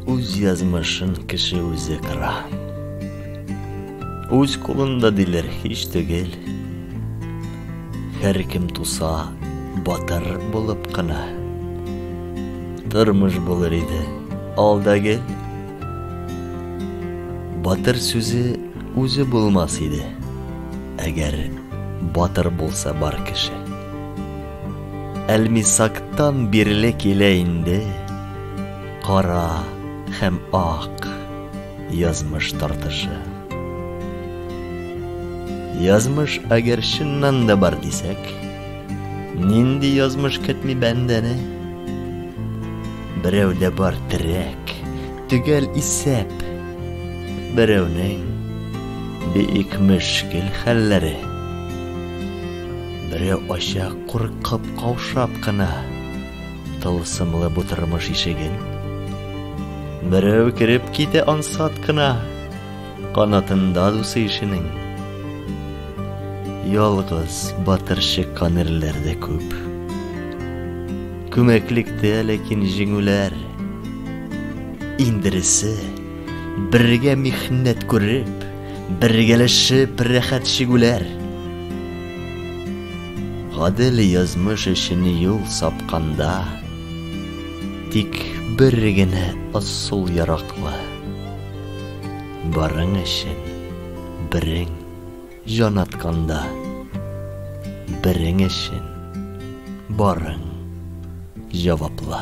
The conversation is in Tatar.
үз язмышын кеше үзе кыра үз кулында диләр һич түгел һәркем туса батыр булып кына тормыш булыр иде алда гел Батыр сүзе үзе булмас иде, әгәр батыр булса бар кеше. Әлмисактан бирле килә инде кара һәм ак язмыш тартышы. Язмыш әгәр чыннан да бар дисәк, Нинди язмыш көтми бәндәне? Берәүдә бар терәк, төгәл исәп. Берәүнең бик мөшкил хәлләре. Берәү ача куркып каушап кына тылсымлы бу тормыш ишеген. Берәү кереп китә ансат кына. Канатында дусы ишенең. Ялгыз батырчы канерләр дә күп. Күмәклектә ләкин җиңүләр. Индересе бергә михнәт күреп, бергәләшеп рәхәт чигүләр. Гадел язмыш өчен юл сапканда, тик бер генә асыл яраклы. Барың өчен берең җан атканда, Берең өчен барың җаваплы.